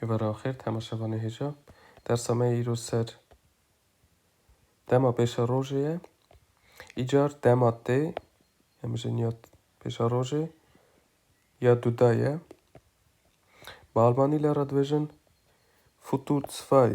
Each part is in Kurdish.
Hêvara axêr temaşevanê hêja. Dersa me yê îro ser dema pêşa rojê ye. Îcar dema tê ya mijin ya pêşa rojê ya duda ye. Bi almanî le re dibêjin futur zwei.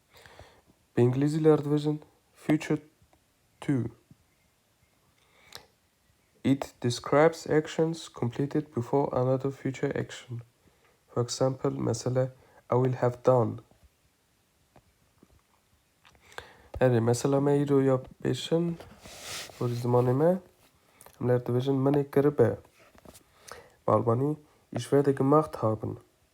Bi îngilîzî ler dibêjin future two. It describes actions completed before another future action. For example, mesela I will have done. Erê, mesela me îro ya pêşin porî zimanê me em ler dibêjin minê kiribe. Bi albanî, ich werde gemacht haben.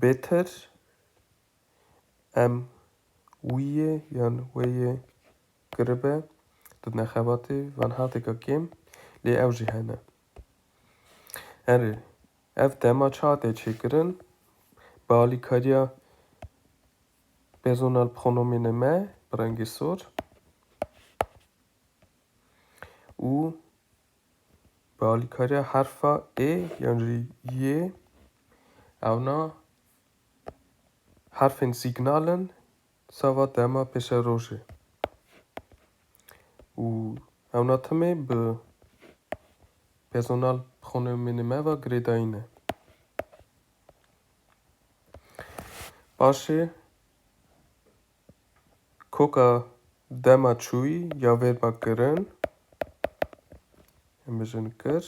Bêter em wî yê yan wê yê kiribe di nexebatê van hatêka kêm lê ew jî hene. Herê ev dema çi hate çêkirin bi alîkariya personal pronomînê me bi rengê sor û Bi alîkariya herfa ê yan jî yê ewna herfên sîgnal in sava dema pêşerojê û ewna timê bi pezonal xonimênê me ve girêdayîn e. Paşê Koka dema çûyî ya vê ba kirin em bijin kir.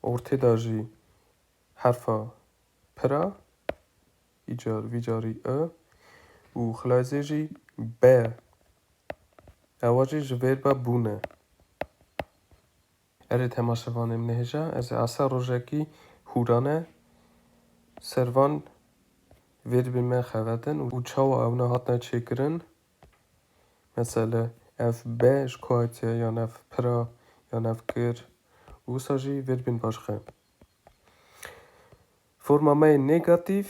Ortê da jî herfa pira îcar vî carî i û xilayzê jî be. Ewa jî ji vê ba bûne. Erê temaşevanê min hêja ez ê asa rojekî hûrane ser van vêribên me xevetin û çawa ewne hatine çêkirin. Mesele ev be ji ku hatiye yan ev pira yan ev kir û wisa jî vêribên başxe. Forma me yê nêgatîf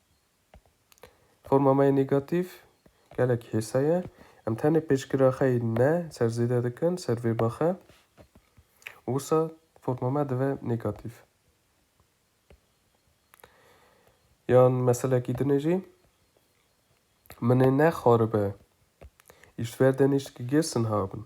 Forma me ya negatîf gelek hêsa ye. Em tenê pêşgira xwe yê ne ser zêde dikin ser vêrba xwe û wisa forma me dive negatîf. Yan meselekî dinê jî Min ê nexaribe, îştver de nişt ki girsin habin.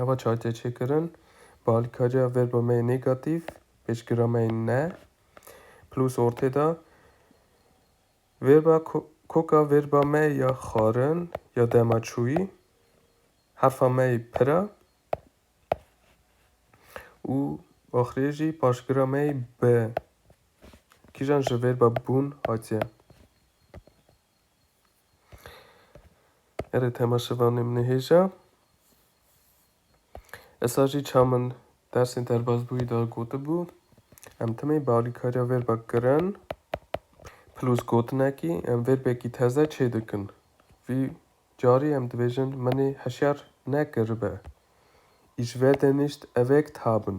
Ava çay tê çêkirin. Bi alîkariya verba me yê nêgatîf, pêşgira me yê ne, plus ortê de verba koka verba me ya xwarin ya dema çûyî, herfa me yê pir e û axirê jî paşgira me yê bi. Kîjan ji verba bûn hatiye? Erê tema şivanê min ê hêja. Esa jî ça min dersên derbazbûyî de gotibû. Em timê bi alîkariya vêrba kirin plus gotinekî em vêrbekî teze çê dikin. Vî carî em dibêjin min ê heşyar nekiribe. Îşverdenişt evek tabin.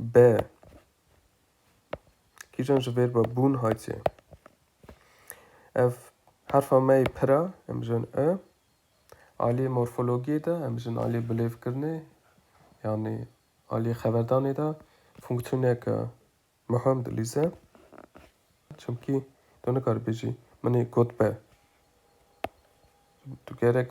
Be. Kîjan ji vêrba bûn hatiye? Ev herfa me yê pira, em bijin e. Aliyê morfologiyê de, em bijin aliyê bilêvkirinê, yanî aliyê xeberdanê de fonksiyoneke muhim dilîze. Çimkî tu nikaribêjî min ê got be. Tu gerek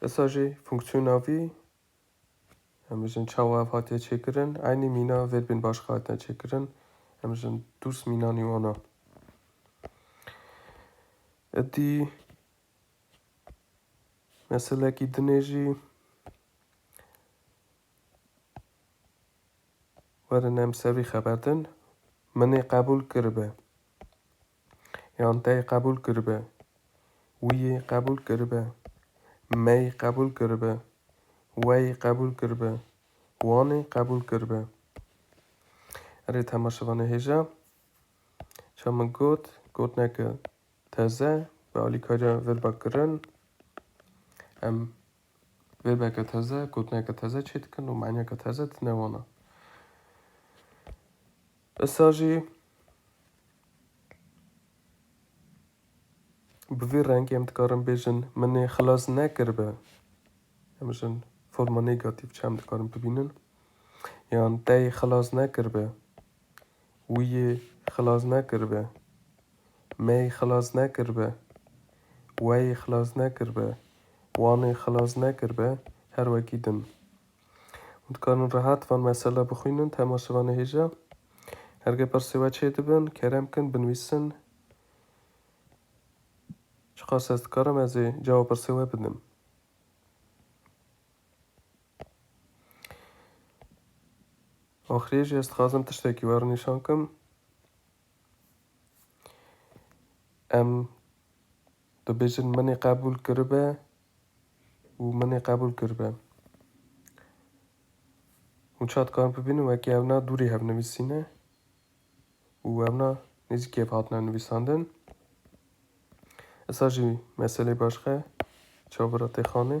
Dîsa jî fonksiyona vî em bijin çawa ev hatiye çêkirin, eynî mîna vêrbên başka hatine çêkirin, em bijin dûs mînanî wan a. Îdî meselekî din ê jî werin em ser vî xeber din. Min ê qebûl kiribe. Yan tey qebûl kiribe. Wî yê qebûl kiribe. Me yê qebûl kiribe. We yê qebûl kiribe. Wan ê qebûl kiribe. Erê tema şevanê hêja. Ça min got, gotineke teze bi alîkariya verba kirin. Em verbeke teze, gotineke teze çê dikin û manîyeke teze didine wana. Issa jî bi vî rengê em dikarin bêjin min ê xilas nekiribe. Em jin forma negatîf çi em dikarin bibînin? Yan te yê xilas nekiribe. Wî yê xilas nekiribe. Me yê xilas nekiribe. We yê xilas nekiribe. Wan ê xilas nekiribe. Her wekî din. Hûn dikarin rehat van mesela bixwînin temaşevanê hêja. Hergê pirsê we çê dibin, kerem bikin binivîsin. Çiqas ez dikarim ez ê cava pirsê we bidim. Axirê jî ez dixwazim tiştekî we re nîşan kim. Em dibêjin min ê qebûl kiribe û min ê qebûl kiribe. Hûn ça dikarin bibînin wekî evna dûrê hev nivîsîne û evna nêzîkî hev hatine nivîsandin. Esa jî meselê başka çavbira têxanê.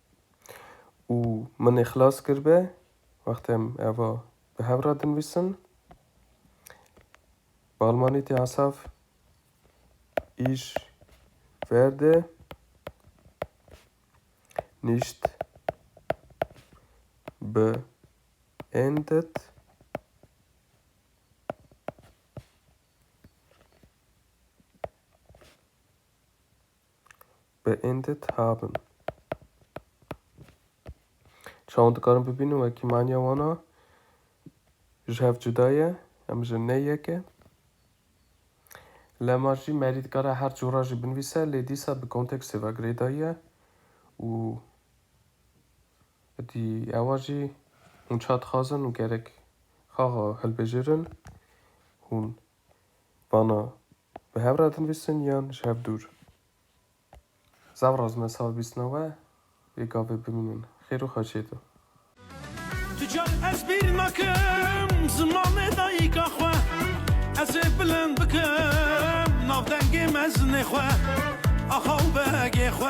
û min ê xilas kiribe wextê em eva bi hev re dinivîsin. Bi almanî tê hesav Ich werde nicht beendet beendet haben. Çawa hûn dikarin bibînin wekî maniya wan a ji hev cuda ye, em ji ne yek e. Lema jî merî dikare her cora jî binivîse lê dîsa bi kontekstê ve girêdayiye û dî ewa jî hûn ça dixwazin û gerek xaxa hilbijêrin hûn bana Bi hev re dinivîsin yan ji hev dûr? Zav razime sal bîst na we yê gavê bimînin xêr û xeçê de. Tu car ez bîr nakim zimanê dayîka xwe Ez ê bilind bikim navdengê mezinê xwe Axa û begê xwe.